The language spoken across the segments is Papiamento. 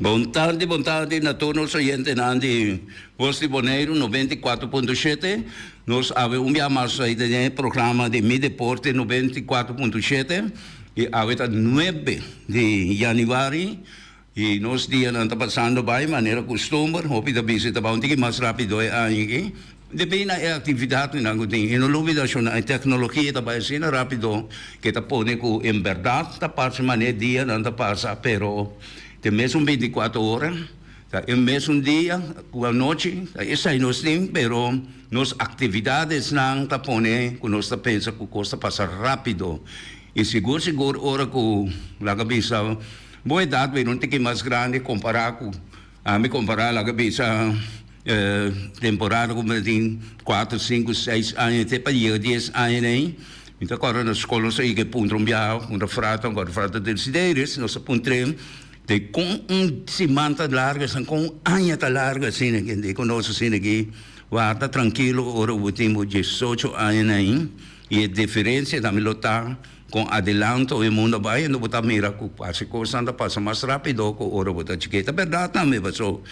Bon tardi, bon tardi na tur nos oyentenan di Voz di Boneiru noventa i kuater punto shete. Nos a habi un bia mas ey den e programa di Mideporte noventa i kuater punto shete. I awe ta nuebe di Januari i nos dianan ta pasando bai manera kustumber. Hopi ta bisa ta bou tin ki mas rápido e aña aki debí na e aktividatnan ku tin. I no lo olbida shon nan e teknologia ta bai asina rápido ke ta pone ku en bèrdat ta parse manera dianan ta pasa pero te mes un binti kuater ora. Ta e mesun dia ku anochi, ta esei nos tin, pero nos aktividadesnan ta pone ku nos ta pensa ku kos ta pasa rápido. I sigur sigur ora ku, laga bisa, bo edat bira un tiki mas grandi kompará ku ami, kompará laga bisa e temporada ku mi ta tin kuater, sinku, seis aña te pa yega dies aña nei. Mi ta kòrda na skol nos ta yega e puntra un biaha, puntra Frato, ankor Frato Desideris, nos ta puntr'e. Di kon un siman ta largu asina, kon un aña ta largu asina aki, di konos asina aki, warda trankilo ora bo tin bo diesocho aña na ain y e diferencia tambe lo ta kon adilanto e mundo a bai ando bo ta mira ku fasi kosnan ta pasa mas rapido ku ora bo ta chikit. Ta berdad tambe paso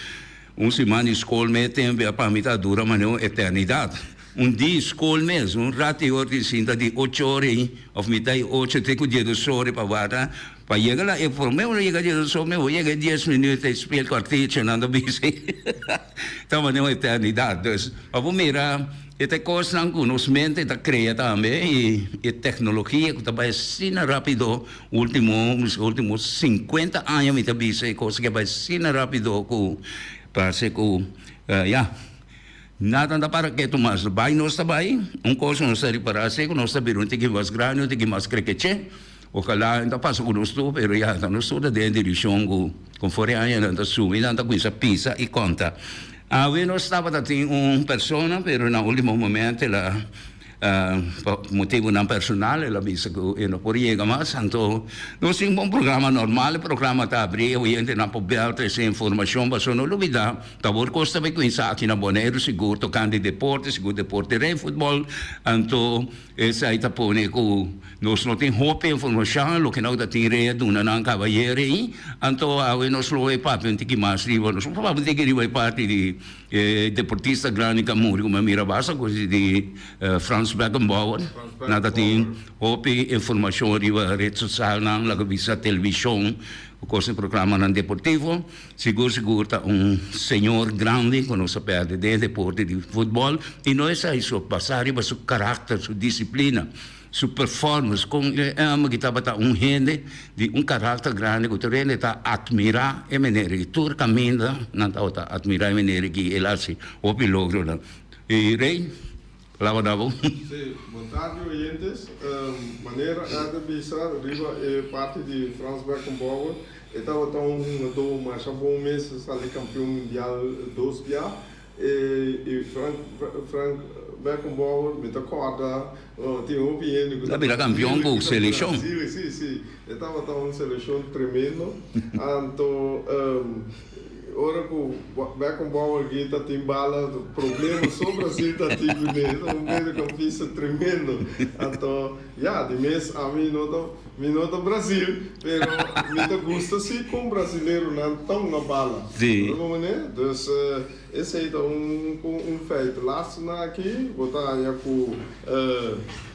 un siman di skol mes tempo pa mi ta dura manera un eternidad. Un di skol mes, un ratiho tin sinta di ocho ora ain of mitai ocho te ku diedos ora pa warda. Pa yega la e por meu lo yega di eso mi bo yega e dies minüt e spiel kuartichi nan ta bisi ta mane un eternidat dus pa bo mira e ta e kosnan ku nos mente ta krea tambe i e teknologia ku ta bai asina rapido ultimo miski ultimo sinkuenta aña mi ta bisa e kos ke bai asina rapido ku parse ku ya nada no ta para ketu mas bai nos ta bai un kos ku nos ta ripará si ku nos ta bira un tiki mas grandi un tiki mas krekeche. Okalá nan ta pasa ku nos tur, pero ya ta nos tur ta den dirishon ku kon for e aña nan ta sumi, nan ta kuminsá pisa i konta. Awe nos tabata tin un persona, pero na último momento el a, pa motibunan personal, el a bisa ku e no por yega mas. Anto nos tin bon programa normal, e programa ta abrí, e oyentenan por bèl trese e informashon. Pasó no lo bida, ta awor kos ta bai kuminsá aki na Boneiru sigur tokante deporte, sigur deporte rei futbòl. Anto. Esei ta pone ku nos no tin hopi informashon, loke nou ta tin rei a duna nan kaba ayer ei, anto awe nos lo e papia un tiki mas riba, nos lo papia un tiki riba e parti di e deportista grandi ku a muri ku mi a mira basta kosi di Frans Beckenbauer, nan ta tin hopi informashon riba ret sosialnan laga bisa televishon ku kosa programanan deportivo. Sigur sigur ta un señor grandi cu nos a perde den e deporte di futbol y no esai so, basa riba su caracter, su disciplina, su performance con e ama ki tabata un hende di un caracter grandi cu tur hende ta admira e manera y tur caminda nan tabata admira e manera ki el haci hopi logronan. Rey. Laba da bo. Sí, bon tardi oyentes. Manera a ta bisa riba e parti di Frans Beckenbauer, e tabata un hungadó masha bon mes, sali kampion mundial dos bia. E i Frank, Frank, Beckenbauer, mi ta kòrda, tin hopi hende ku tabata kampion ku selekshon. Sí, sí, e tabata un selekshon tremendo. Anto. Ora cu Beckham Bauer grita tin bala problema so Brasil ta tin cu ne. Esta un mediocampista tremendo anto ya di mes ami no ta mi no ta Brasil pero mi ta gusta si con brasileronan ta hunga bala. Lo mesmo manera dus esey ta un un feit. Lastima aki bo ta haña cu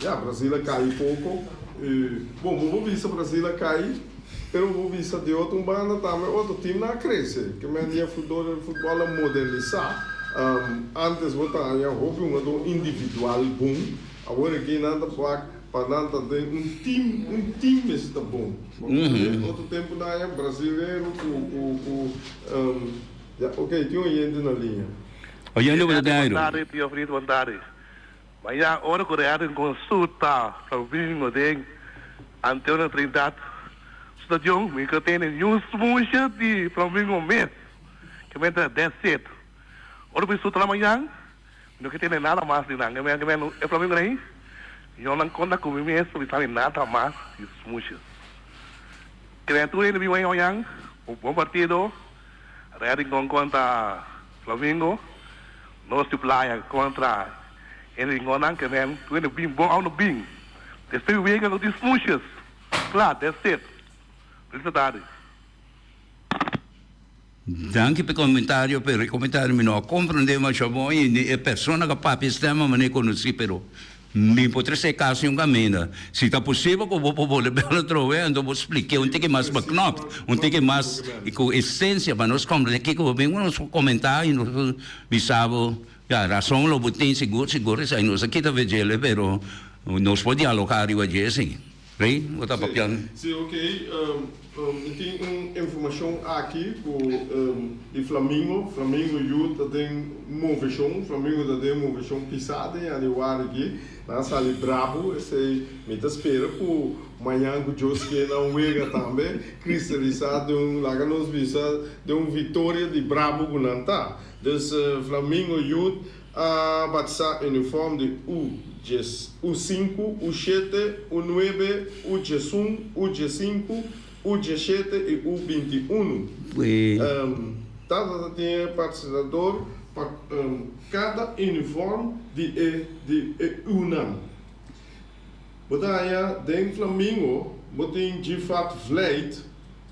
ya Brasil a cay poco y bo bo bisa Brasil a cay. Pero bo bisa di otro banda tambe otro teamnan a crece. Kimen di e futboler di futbol a moderniza. Antes bo ta haña hopi hungador individual bon, awor aki nan ta bak pa nan ta den un team, un team mes ta bon. Bo a bisa di otro tempo nan a haña brasilero cu, cu, cu, ya, ok tin oyente na linea. Oyente bo ta den ay Rudy? Bontadi, tio Fritz, bontadi. Ma ya ora ku real den konsulta ta bingo den Anteo na Trinidad stadion mi ka tene niun smushia di Flamingo mes ke men ta that's it. Ora ku mi suta na mañan mi no ke tene nada mas di nan. Ke men e Flamingo rei yo nan konta ku mi mes pa mi sali nada mas di smushia. Kreatura e na bin bai mañan un bon partido real den konkonta. Flamingo, Nos di playa kontra e ringonnan ke nen ku e no bin bon aun no bin. Despues di wega lo di smooshes. Kla, dats it. Felicidades. Danki p'e komentario, p'e rekomentario. Mi no a komprendé mashá bon i ni e persona ku a papia stèm a mané konosí, pero Mi por trese e kas yon kaminda. Si ta posibel ku bo por bole bel atrowe, anto bo spliké un tiki mas beknopt, un tiki mas ku esensia pa nos komprendé kiko bo bin ku nos komentá i nos bisa bo, ya, rason lo bo tin sigur sigur esei. Nos a kita vejele pero nos por dialogá riba dje esei. Rey, bo ta papian. Sí, ok. Mi tin un informacion aki cu di Flamingo. Flamingo yu ta den movecion. Flamingo ta den movecion pisa den januari aki. Nan a sali brabo. Esey mi ta spera cu mañan cu Dios kier nan wega tambe cristalisa den un, laga nos bisa, den un victoria di brabo cu nan ta. Dus Flamingo Youth. A Bat sa uniform di u djes u sinku u shete u nuebe u djesun u djesinku u djeshete i u binti unu em Tata ta tin e patrocinador pa em cada uniform di e di e u nan Bo ta haña den Flamingo bo tin Gifat Vlijt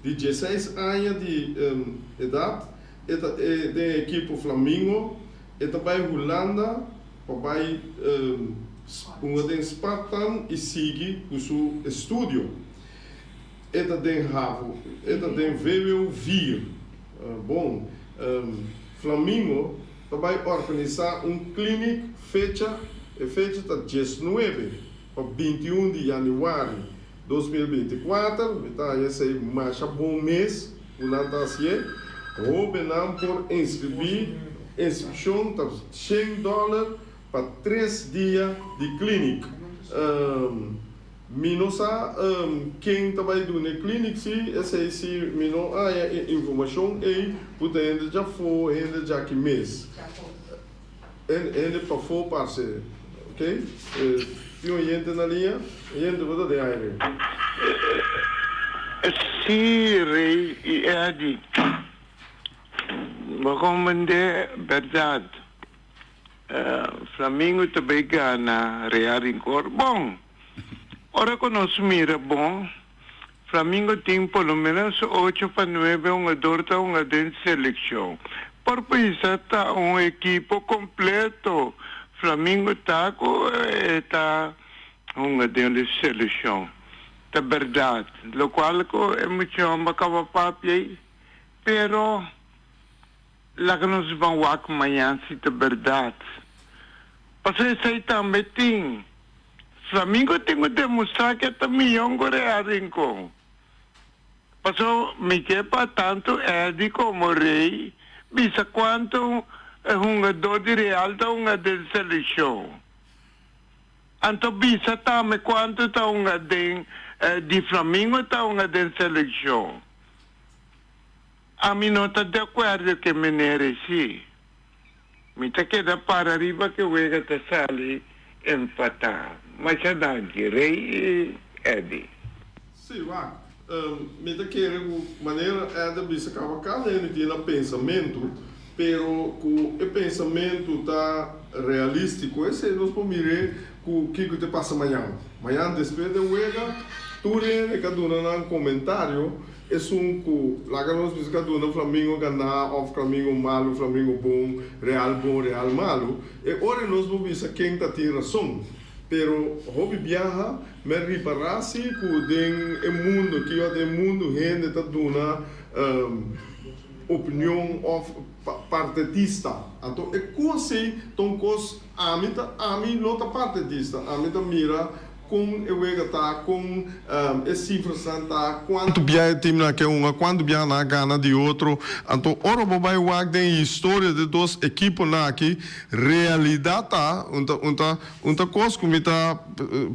di djeseis aña di em edad e ta e den e ekipo Flamingo E ta bai Hulanda pa bai unda den Spartan i sigui ku su estudio. E ta den havo, e ta den vvo vier. Bon, Flamingo ta bai organisá un klinik fecha, e fecha ta diesnuebe. Pa binti un di yanüari dos mil binti kuater mi ta haña esei masha bon mes ku nan ta hasié. Hóbennan por inskribí. Inskripshon ta shen dòler pa tres dia di klínik. Mi no sa ken ta bai duna e klínik si, esei si mi no haña e informashon ei, puta hende djafó, hende djaki mes. Hende pafó parce ok tin un oyente na liña oyente bo ta den ai rei. Sí rei i Eddy bo con bendé berdad Flamingo ta bay gana Real Rincor bon ora cu nos mira bo. Flamingo tin por lo menos ocho pa nuebe hungador ta hunga den seleccion. Por pensa ta un ekipo completo. Flamingo ta cu e ta hunga den e seleccion. Ta berdad locual cu e muchonba caba papia ey. Pero. Laga nos ban wak maña si ta berdad. Pasobra esei tambe tin, Flamingo tin cu demostrá cu e ta miyon cu Rey a Rincon. Pasobra mi ke pa tantu Eddy como Rey bisa cuantu e hungador di Real ta hunga den seleccion. Anto bisa tambe cuantu ta hunga den di Flamingo ta hunga den seleccion. Ami no ta di acuerdo ke mener esi. Mi ta keda para riba ke wega ta sali empata. Masha danki Rey y Eddy. Sí, wak. Mi ta kere cu manera Eddy a bisa caba aca mi tin na pensamentu. Pero cu e pensamentu ta realístico esei nos por mir'é cu kico te pasa mañan. Mañan despues d'e wega tur hende ca duna nan comentario esun cu laga nos bisa ca duna Flamingo gana of Flamingo malu, Flamingo bon, Real bon, Real malu. E ora nos por bisa ken ta tin rason. Pero hopi biaha m'e ripara si cu den e mundo, kijo den e mundo hende ta duna. opinion of partetista anto e cos ey ta un cos ami ta ami no ta partetista ami ta mira con e wega ta con e cifras nan ta cuanto bia e team nan ke unda cuanto bia nan a gana di otro anto ora bo bay wak den historia de dos ekipo nan aki realidad ta un ta un ta un ta cos cu mi ta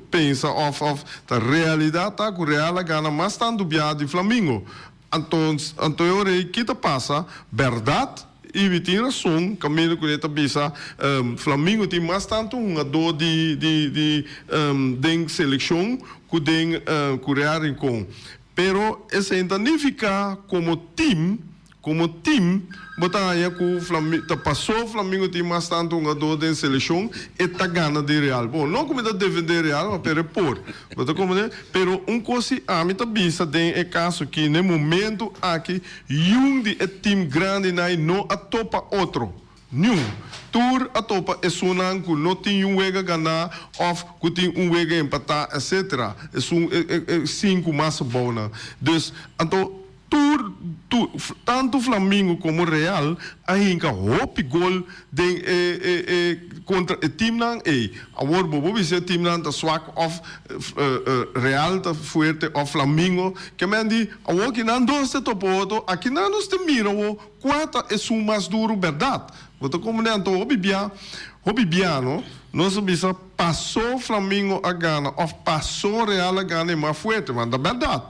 pensa of of ta realidad ta cu real a gana mas tanto bia di flamingo. Anto, anto e ora ei ki ta pasa berdad? Ivi tin rason Camilo cune'e ta bisa, Flamingo tin mas tanto hungadó di di di den seleccion cu den Curea Rincon. Pero esei ta nifica como team, como team bo ta haña cu Flamingo ta paso Flamingo tin mas tanto hungadó den seleccion e ta gana di Real. Bon, no cu mi ta defende Real, ma pero e por. Lo ta komende, pero un kos si ami ta bisa den e kaso ki n'e momentu aki yun di e tim grandinai no a topa otro, niun. Tur a topa esunnan ku no tin yun wega ganá òf ku tin un wega empatá, etsetera. Esun e sinku mas bounan. Dus anto Tur tu tantu Flamingo komo Real a hinka hopi gol den e e e kontra e timnan ei. Awor bo por bisa e timnan ta swak òf Real ta fuerte òf Flamingo. Kemen di awor ki nan dos te topa oto, aki nan nos te mira awor kua ta esun mas duru bèrdat. Bo ta komo nènto hopi bia, hopi bia no, nos a bisa. Pasó Flamingo a gana of pasó Real a gana e mas fuerte, want ta berdad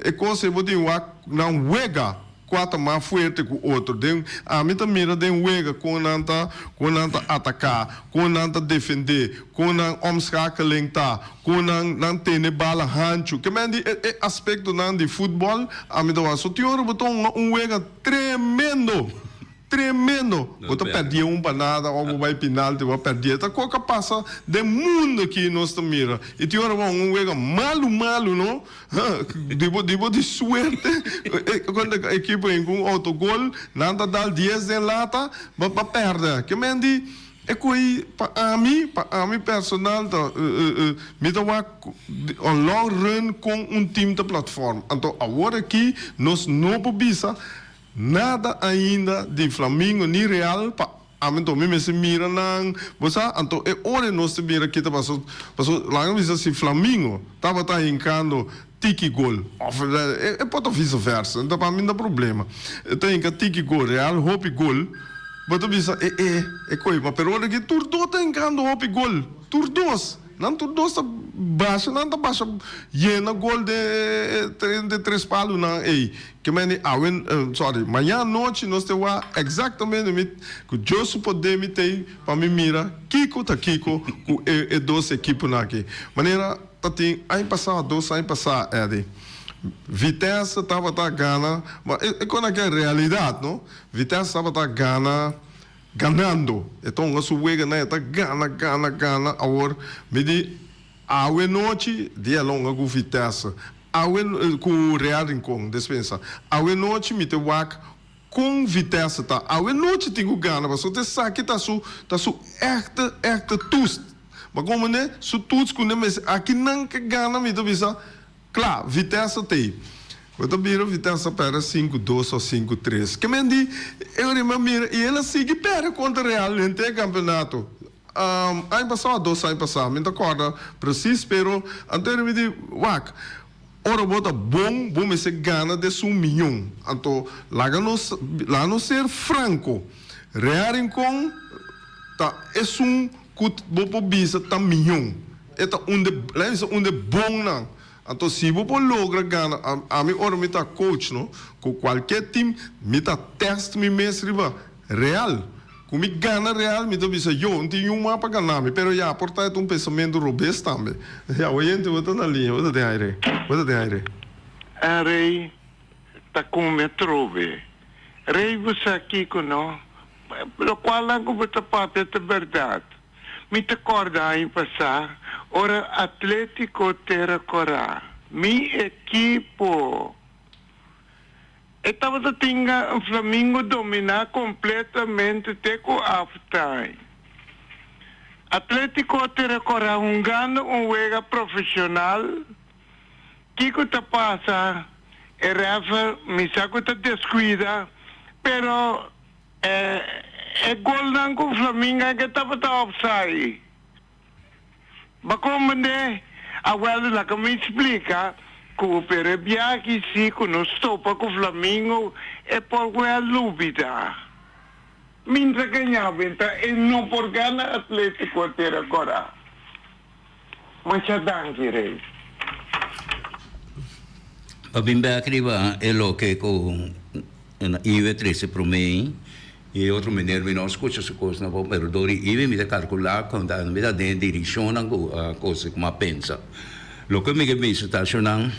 e cos ey bo tin wak nan wega cua ta mas fuerte cu otro den, ami ta mira den wega con nan ta con nan ta ataca, con nan ta defende, con nan omschakeling ta, con nan nan tene bala hancho, ke men di e aspecto nan di football ami ta wak, so tin ora bo ta hunga un wega tremendo. Tremendo! Bo ta perdie un banada o bo bai pinalti bo a perdie. Ta koe ka pasa den mundo aki nos ta mira. I tin ora bo a un wega malu malu no, ha, di bo di bo tin suerte konta e ekipo hin ku un outogol, nan ta dal dies den lata, bo bo a pèrdè. Ke men di e koe ei pa ami, pa ami personal ta mi ta wak on long run kon un tim ta platform. Anto awor aki nos no por bisa. Nada ainda di Flamingo ni Real pa ami anto mi mester mira nan bo sa anto e ora nos te mira kita paso paso laga mi bisa si Flamingo tabata hinkando tiki gol of e por ta vice versa enta pa mi ta problema e ta hinka tiki gol Real hopi gol bo ta bisa e e e koyo pa pero ora ki tur dos ta hinkando hopi gol tur dos nan tur dos ta basha nan ta basha yena gol den den tres palu nan ey. Ki meni awen, sorry, maña anochi nos te wak exactamente mit cu Dios su poder mi tey pa mi mira kico ta kico cu e e dos ekiponan aki. Manera ta tin aña pasado, dos aña pasado, Eddie, Vitesse tabata gana, ma e con aki e realidad, no, Vitesse tabata gana ganando, e ta hunga su weganan e ta gana, gana, gana, awor mi di. Awe nochi, dia lon a gufi tèsa, awe, ku Real Rincon, despensa. Awe nochi mi te wak kon Vitesse ta. Awe nochi tin ku gana pasobra esaki ta su, ta su èkte, èkte tust. But kon manera su tuts ku nan mes aki nan ke gana mi ta bisa kla, Vitesse t'ei. Bo ta bira Vitesse ta pèrdè sinku dos òf sinku tres. Ke men di e ora mi a mira i el a sigui pèrdè kontra Real henter e kampionato. Aña pasá o dos aña pasá, mi no ta kòrda presis, pero anto mi di, Wak, ora bo ta bon, bo mester gana des un miñon. Anto laga nos, laga nos ser franko, Real Rincon ta esun ku bo por bisa ta miñon. E ta un de, laga mi bisa un de bonnan. Anto si bo por logra gana, ami ora mi ta coach, no, ku kualke tim, mi ta tèst mi mes riba. Real. Cu mi gana real mi ta bisa, yo, n'tin yu mas pa gana mi, pero ya por ta e ta un pensamento robes tambe. Ya, bo yente, bo ta na liña, bo ta den aire, bo ta den aire. En rey ta come atrobe. Rey, bo sa kico no? Locual anco bo ta papia ta berdad. Mi ta corda aña pasa, ora Atletico Terra Cora, mi equipo! E tabata tinga Flamingo dominá kompletamente te ku halftime. Atlético a tira kora hungando un wega profeshonal. Kiko ta pasa, e refer misa ku ta deskuida, pero e golnan ku Flamingo a hega tabata offside. Ba kon band'é? A Welder laga mi splika ku pero e biahi si ku no stopa ku Flamingo e por wel lubi ta. Mi ta gaña be ta e no por gana Atletico ter agora. Masha danki rey. Pabin bek riba e loke ku. Na iwe trese promé i e otro meneer mi no scucha su cosnan bo, pero door di iwe mi ta carcula cuanta mi ta den e direccionnan cu cosnan cu mi a pensa. Loke mi ke mester ta asho nan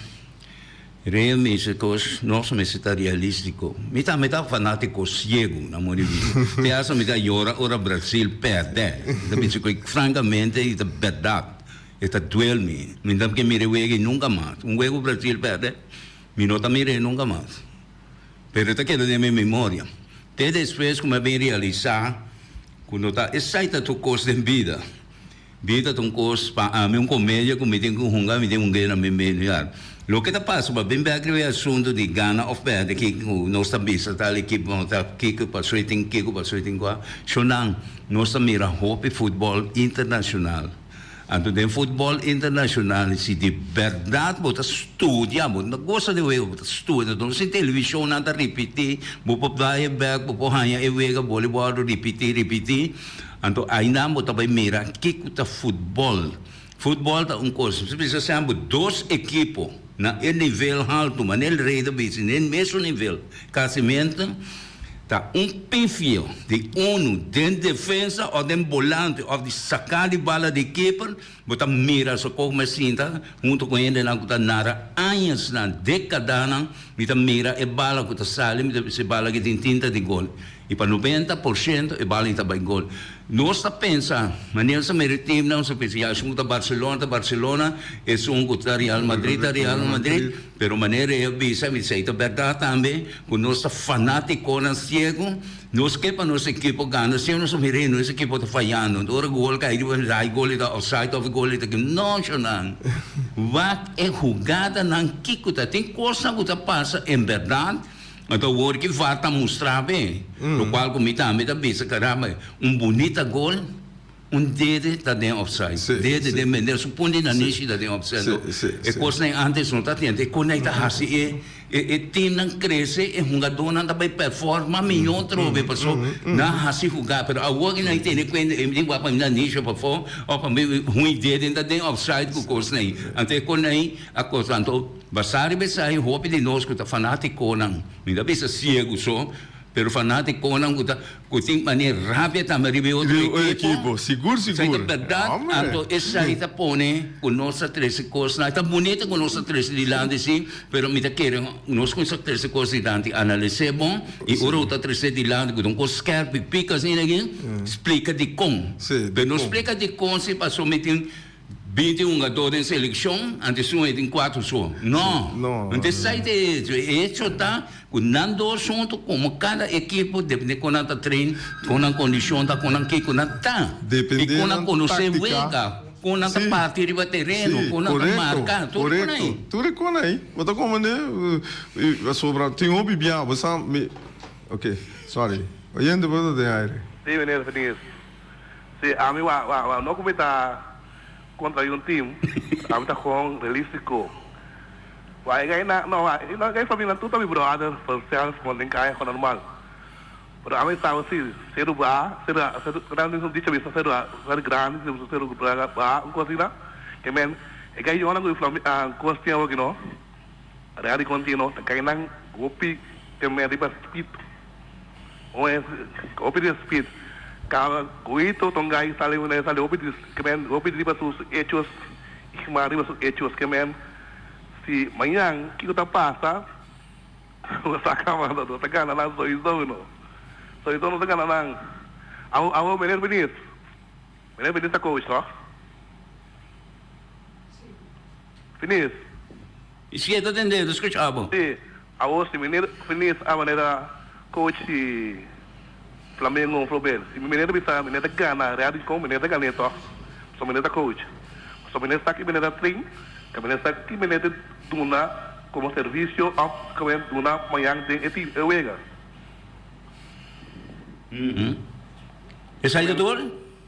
rea mester cos nos mester ta realistico. Mi tambe ta fanatico ciego na moda di vida. Te hasta mi ta yora ora Brasil perde. I ta bisa cu francamente i ta berdad. E ta duel mi. Mi no ke mira e wega nunca mas. Un wega cu Brasil perde mi no ta mira e nunca mas. pero e ta keda den mi memoria te despues ku mi a bin realisá ku no ta esei ta tur kos den bida. Bida ta un kos pa ami un komedia ku mi tin ku hunga, mi tin hunga na mi menu ya. Loke ta pasa pa bin bèk riba e asuntu di gana òf pèrdè kiko ku nos ta bisa tal ekipo, nos ta kiko pasó e tin, kiko pasó e tin ku a. Shonang, nos ta mira hopi futbòl internashonal. Anto den futbol internashonal si di bèrdat bo ta studia, bo no ta gosa di e wega, bo ta studia. Dor si televishonnan ta ripití, bo por bai e bèk, bo por haña e wega bolibòl ripití, ripití, anto ainan bo ta bai mira ke ku ta futbòl. Futbòl ta un kos, bo ta bisa semper dos ekipo na e nivel haltu, manera el rei ta bisa, na e mesun nivel, kasimente. Ta un pifio di unu den defensa of den bolante of di saka di bala di keeper bo ta mira so kos mi a sinta hunto ku hendenan ku ta nara añasnan, dekadanan mi ta mira e bala ku ta sali mi ta bisa e bala ki tin tinta di gol i pa noventa por shento e bala i ta bai gol. Nos ta pensa manera sa meri timnan nos ta pensa ya esun ku ta Barcelona ta Barcelona esun ku ta Real Madrid ta Real Madrid. Pero manera e a bisa mi esei ta bèrdat tambe, ku nos ta fanátikonan siegu. Nos ke pa nos ekipo gana, siño nos a mira e nos ekipo ta fayando. Ora gol kai riba nos a, e gol ei ta òfsaid òf e gol ei ta ke. No, shonnan! Wak e hugadanan kiko ta. Tin kosnan ku ta pasa en bèrdat, anto awor ki var ta mustrá awe, lokual ku mi tambe ta bisa, karamba, un bunita gol. Un dede ta den opsai. Sí, Dede sí. den bender. Supon di nan Sí. nishi ta den opsai, Sí, no? sí, E sí. kosnan antes no ta tenta. E kosnan ta hasi e, e, e timnan krese, e hungadónan ta bai performa mihó atrobe. Pasó nan hasi hugá. Pero awor ku nan a tene kuenta, e mindi wak pa mi nan nishi pafó, òf pa mi hun e dede ta den opsai ku kosnan ei. Anto e kosnan ei a kos. Anto, basá riba esei, hopi di nos ku ta fanátikonan, mi ta bisa siegu so, Pero fanático comonan cu ta cu tin mane rabia tambe riba e otro equipo. Sigur sigur. Esaki berdad anto esaki ta pone cu nos ta trece cosnan. Ta bunita cu nos ta trece dilanti si pero mi ta kere nos cu sa trece cos dilanti analis'e bon y ora cu ta trece dilanti cu ta un cos skerp y pica asina aki splica dicon. Pero no splica dicon si pasobra mi tin. Bin tin un gador den selekshon antes su e tin kuater so? No. Entonces sa e ta e hecho? E hecho ta ku nan dos huntu komo kada ekipo depende kon nan ta train, kon nan kondishon ta, kon nan kiko nan ta i kon nan konosé wega, kon nan ta parti riba tereno, kon nan ta marka, tur e kon ai. Tur e kon ai. Bo ta komo ne pasobra tin hopi bia bo sa mi. Ok, sorry. Oyente bo ta den aire. Sí, meneer Verdier. Si ami wou no ku mi ta kontra un tim, ami ta kon realistiko. Wou e gei nan, no, wou e gei pa mi nan tur ta mi bròder for sèlf kon den kaya kon normal. Pero ami saba si sedu ba, sedu nan mismu dicha bisa sedu ser grandi, si sedu ba un kos asina, ke men e gei yòna ku inflami kos tin awor ke no. Radi continuo ta kai nan hopi temé riba speed. Un es hopi den speed. Caba Goito Tongai sa leu nan e sa leu hopi discrent, hopi riba su hechos y mas riba su hechos ke men si mañan kico ta pasa nos ta caba nos ta gana nan soiso no. Soiso nos ta gana nan. Awo awo meneer Benies, meneer Benies ta coach toch? Finis. E sikier ta tende ta scuch abo. Si, awor si mi mira finis a manera coach di Flamengo flor bel. Si mi mira ta bisa mi neta gana real di con mi neta gane toch pasobra mi neta coach. Pasobra mi neta sa ki mi neta train y mi neta sa ki mi neta duna como servicio of ki mi neta duna mañan den e team e wega. Esaki ta tur?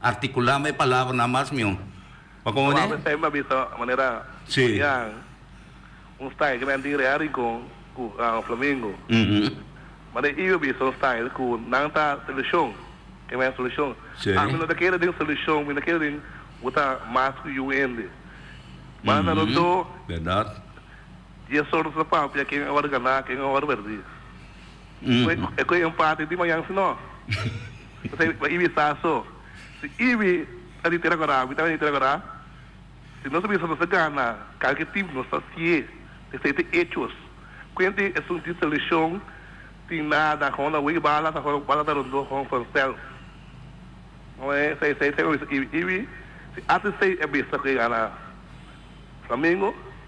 Articulá mi e palabranan mas mió. Pa como ne? Probablmente mi ta bisa manera Julian, un style cu nan tin real Rincon cu Flamingo. Ma den Iwi bisa un style cu nan ta solucion, e mes solucion. Ami no ta kere den solucion, mi ta kere den bo ta mas cu yu hende. Banda Rondó. Di e sordo ta papia ken a wòrdu ganá, ken a wòrdu berdí. E ku e empate di mañan sinó ta bai Ibi sa so. Si Ibi ta di tera Guará, mi tambe ta di tera Guará. Si nos ta bisa nos ta gana kada ki tim nos ta sié. Esei ta e echos. Kuenti esun tin seleshon, tin nada, kon na wei bala ta kon, bala ta rondó kon vanzelf. No e esei, esei ta bisa Ibi. Ibi si ata esei a bisa ku e gana Flamengo.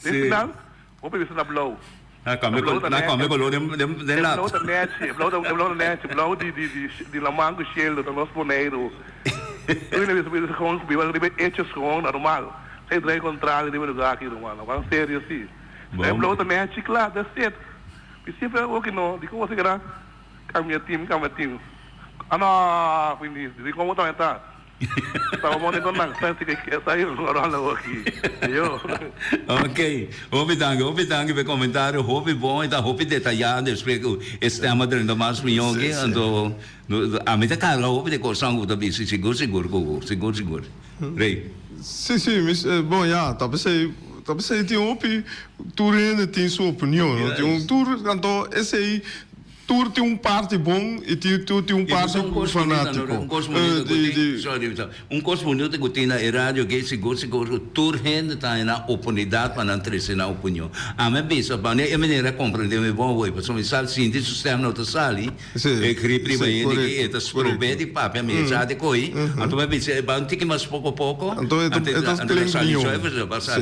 Den final, hopi bes ta na blou. Na cambia color den lat. E blou ta nechi, e blou ta nechi, blou di laman cu shieldo ta los Boneiru. Ui na bes hopi bes con biba riba e echo schoon normal. Sa e draai contrario riba e lugar aki ruman. No ban serio asi. Si ta e blou ta nechi cla, that's it. Mi simpel a oki no, di cosa keda cambia team, cambia team. Anoh! Finis. Di como ta aumentá? Salomon tabata nag pensa cu e esai un coron la hopi yo. Ok, hopi danki, hopi danki pa e comentario, hopi bon, e ta hopi detayá despues cu e stem a drenta mas mió aki, anto ami ta carga hopi di coson cu bo ta bisti sigur sigur cu bo, sigur sigur. Rey. Si, si, mi bon ya, ta pesey, ta pesey tin hopi, tur hende tin su opinion, no? Tin un tur, anto esey. Tur tin un parti bon i tin tur tin un parti ku fanatiko di. Un kos bunita ku tin na e radio ke si gosi kos ku tur hende ta na opornidat pa nan trese nan opinion. Ami a bisa pa e manera a komprende mi bon hoy pasobra mi sa sinti su stem no ta sali, e grip riba hende aki e ta strobe di papia mi e sa di koi. Anto mi a bisa e bai un tiki mas poko poko anto di a sali.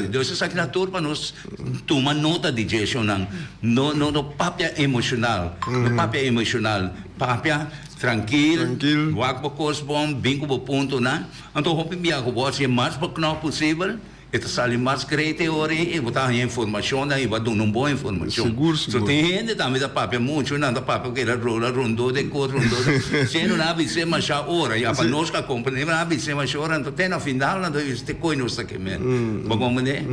Entonces esaki ta tur pa nos. Tuma nota di djecisionnan. No no papia emocional. No papia emocional. Papia trankil. Wak bo kos bon. Bin ku bo puntunan. Anto hopi bia ku bo hasi e mas baknòp posibel. E ta sali mas krèt e ora. I bo ta haña informashonnan i bo a duna un bon informashon. So tin hende tambe ta papia muchu. Nan ta papia ku e rola rondó dje kos, rondó dje kos. Si e no na bis'é mashá ora ya pa nos ka komprendé. Si e no na bis'é mashá ora, anto te na final nan ta wisi te koe nos ta ke mester. Bo kompren'é?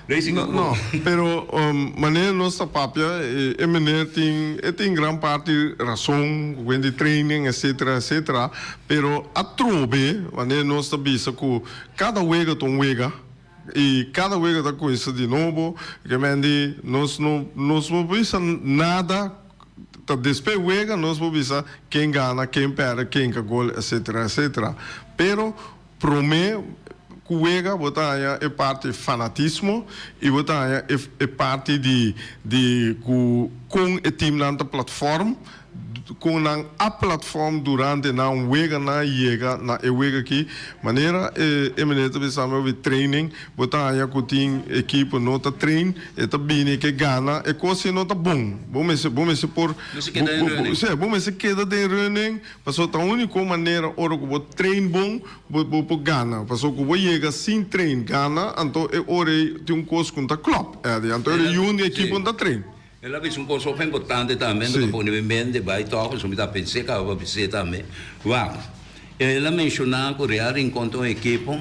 Racing no No, no. Pero manera nos ta papia, e meneer tin, e tin gran parti rason cu cuenta di training etcetera, etcetera. Pero atrobe, manera nos ta bisa cu cada wega ta un wega y cada wega ta coisa di nobo, kemende nos no, nos no bisa nada, ta despe wega nos por bisa ken gana, ken perde, ken ka gol, etcetera, etcetera. Pero. Prome ku wega bo ta haña e parti fanatismo i bo ta haña e parti di di ku kon e timnan ta platfòrm, kon nan a platfòrm durante nan wega nan yega na e wega aki. Manera e meneer ta bisa mi ober training, bo ta haña ku tin ekipo no ta train, e ta bini ke gana e kos ke no ta bon. Bo mester bo mester por bo mester keda den reunen. Pasobra ta úniko manera ora ku bo train bon bo bo por gana. Pasobra ku bo yega sin train gana anto e ora ei tin un kos ku no ta klòp, Eddie. Anto e reyun di ekipo no ta train. El a bisa un kos hopi importante tambe, bo ta pone bo mente bai tòg, pasobra mi ta pens'é ku a bo a bis'é tambe. Wak, el a menshoná ku Real Rincon ta un ekipo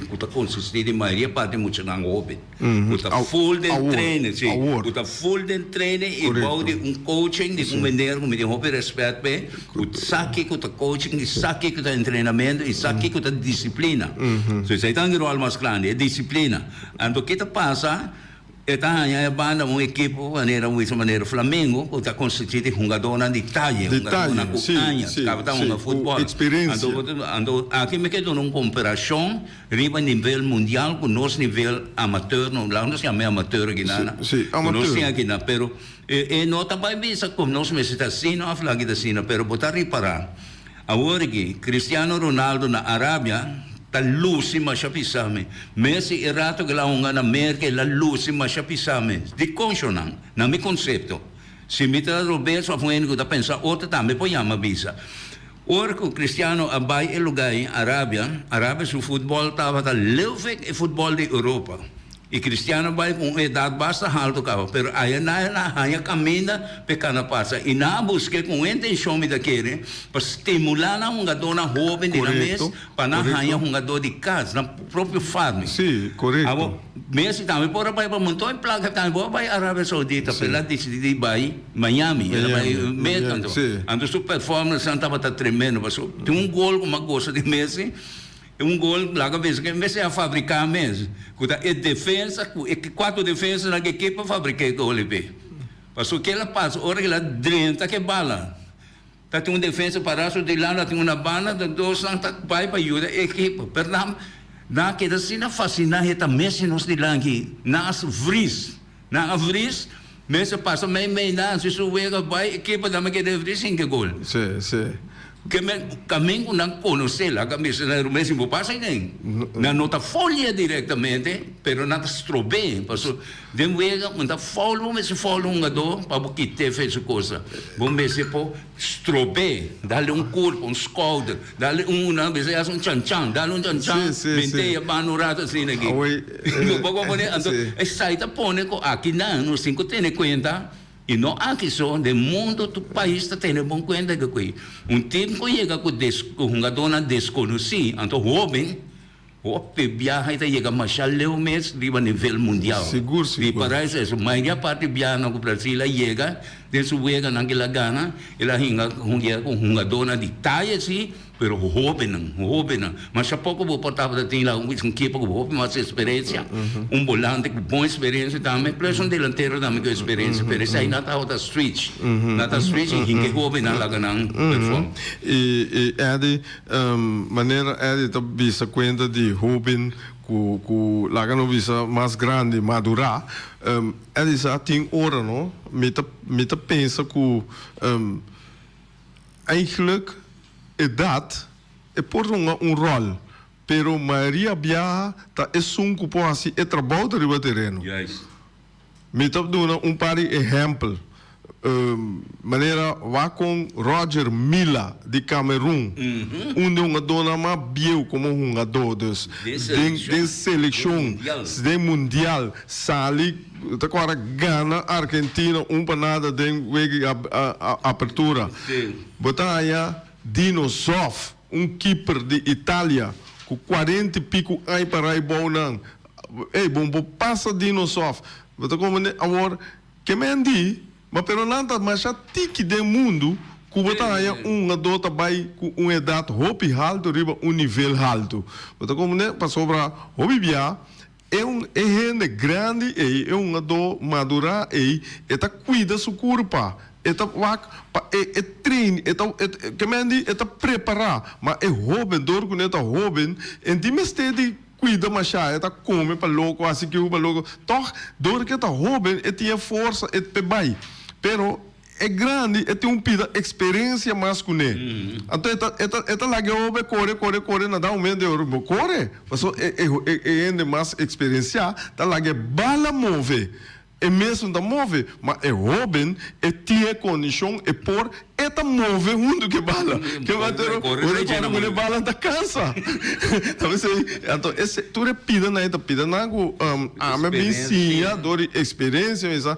ku ta konsistí di mayoria parti di muchanan hopi. Bo ta full den training, si. Bo ta full den training i bou di un coaching di un meneer ku mi tin hopi respet p'e, ku sa kiko ta coaching i sa kiko ta entrenamentu i sa kiko ta disiplina. So esei ta un rol mas grandi, e disiplina. Anto ke ta pasa, e ta haña e banda un ekipo manera bo bisa manera Flamengo ku ta konstitui di hungadónan di taye, hungadónan ku añas, tabata hunga futbòl. Anto, anto aki mi ke duna un komperashon. Riba nivel mundial cu nos nivel amateur, no, laga nos yam'e amateur aki na, Sí, sí, cu nos amateur. tin aki na, pero e, e no ta bai bisa como nos mester ta asina of laki ta asina, pero bo ta ripara, awor aki, Cristiano Ronaldo na Arabia ta luci masha pisa, mi, Messi e rato cu el a hunga na Merca el a luci masha pisa, mi, diconsho nan? Na mi concepto. Si mi ta robes of un hende ku ta pensa otro tambe por yama bisa. Ora ku Cristiano a bai e luga ei, Arabia, Arabia su futbol tabata leuwek e futbol di Europa. I Cristiano bai ku un edat basta haltu kaba, pero aya nae na haña kaminda pa e kana pasa i nan a busk'é ku un intenshon mi ta kere pa stimulá nan hungadónan hoben di nan mes pa nan haña hungadó di kas, nan propio farmi. Abo. Mi asi tambe por a bai pa monton e placa tambe por a bai Arabia Saudita pero el a dicidi di bai Miami el a bai Mecca anto anto su performance nan tabata tremendo pasobra tin un gol cu mi a goza di Messi e un gol laga bisa cu e Messi a fabrica mes cu ta e defensa cu e cuater defensa nan ke kipa fabrica e golnan pe pasobra kier a pasa ora cu el a drenta ke bala. Ta tin un defensa para su di lado, a tin una banda, ta dosnan ta bai pa yuda e ekipo. Pero nan nan a keda asina fasil, nan heta mes di nos dilanti aki, nan a vris, nan a vris, mes a pasa mei mei nan, si su wega a bai, ekiponan a keda vris hinga gol. Sí, sí. Ke men kamen ku nan konosel, a ka bisa nan Ruben, si bo pasa nen, nan no ta folia direktamente, pero nan ta strob'é, paso. Den wega, bo ta foul bo mester foul hungadó pa bo kit'é fe su kosa. Bo mester por strob'é, dal un kurp, un skouder, dal un una bes e hasi un chan-chan, dal un chan-chan den teya ban un rato asina aki. Bo por a pone, anto esai ta pone ku aki nan nos tin ku tene kuenta, i no aki so, den mundu tur pais ta tene bon kuenta di akui. Un tim ku yega ku des, ku hungadónan deskonosí, anto hóben, Hopi e biaha e ta yega masha leu mes riba nivel mundial. Sigur si Di para es eso. Mayoria parti biahanan ku Brasil a yega den su weganan ke el a gana. El a hinga yega ku hungadónan di taya si, pero hóbennan, hóbennan. Masha poko bo por tabata tin laga un witz un kipa ku hopi mas eksperensia, un bolante ku bon eksperensia tambe, plesha un delantero tambe ku eksperensia. Pero esei nan tabata switch. Nan ta switch i hinga e hóbennan laga nan perfòm. I, i Eddy. Manera Eddie ta bisa cuenta di hoben cu cu laga no bisa mas grandi, madura, Eddie sa a tin ora no mi ta mi ta pensa cu eigenlijk edad e por runga un rol pero Maria biaha ta esun cu por haci e trabao ta riba tereno. Mi ta duna un par di ehèmpel. Manera wak kon Roger Milla di Kamerun, un di hungadónan mas bieu komo hungadó. Dus den selekshon, den mundial, sali, ta kòrda, gana Argentina un pa nada den wega di apertura. Bo ta haña Dino Zoff. Un keeper di Italia cu cuarenta y pico aña pa rai bou nan. Ey, bo bo pasa di nos of. Bo ta comprende? Awor, ke men di, ma pero nan ta masha tiki den mundo cu bo ta haya un hungador ta bay cu un edad hopi halto riba un nivel halto. Bo ta comprende? Pasobra hopi bia. Eun e hende grandi ei, eun adó madurá ei, e ta kuida su kurpa, e ta wak pa e e train, e ta, e ta, ke men di, e ta prepará. Ma e hóben, dor ku nan e ta hóben, e tin mester di kuida mashá, e ta kome pa loko, hasi kiu pa loko. Tòg, dor ke ta hóben, e tin e forsa, e pe bai. Pero, E grandi e tin un pida experencia mas cu ne. Anto e ta e ta e ta laga e obe core core core na da un momento e ora bo core paso e e e e hende mas experencia ta laga e bala move e mesun ta move ma e hoben e tin e condicion e por e ta move hunto cu e bala cu bai tur ora core core e bala ta cansa ta wens ey anto e se tur e pida nan e ta pida nan cu ami a bin siña dor di experencia mesa.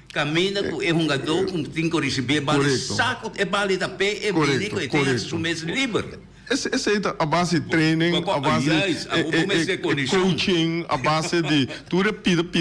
Caminda cu e hungadó cu tin cu ricibi e bali saca ot e bali ta pe e bini cu e tin haci su mes liber. Esey ta a base di training, a base di e coaching, a base di tur e pida pida.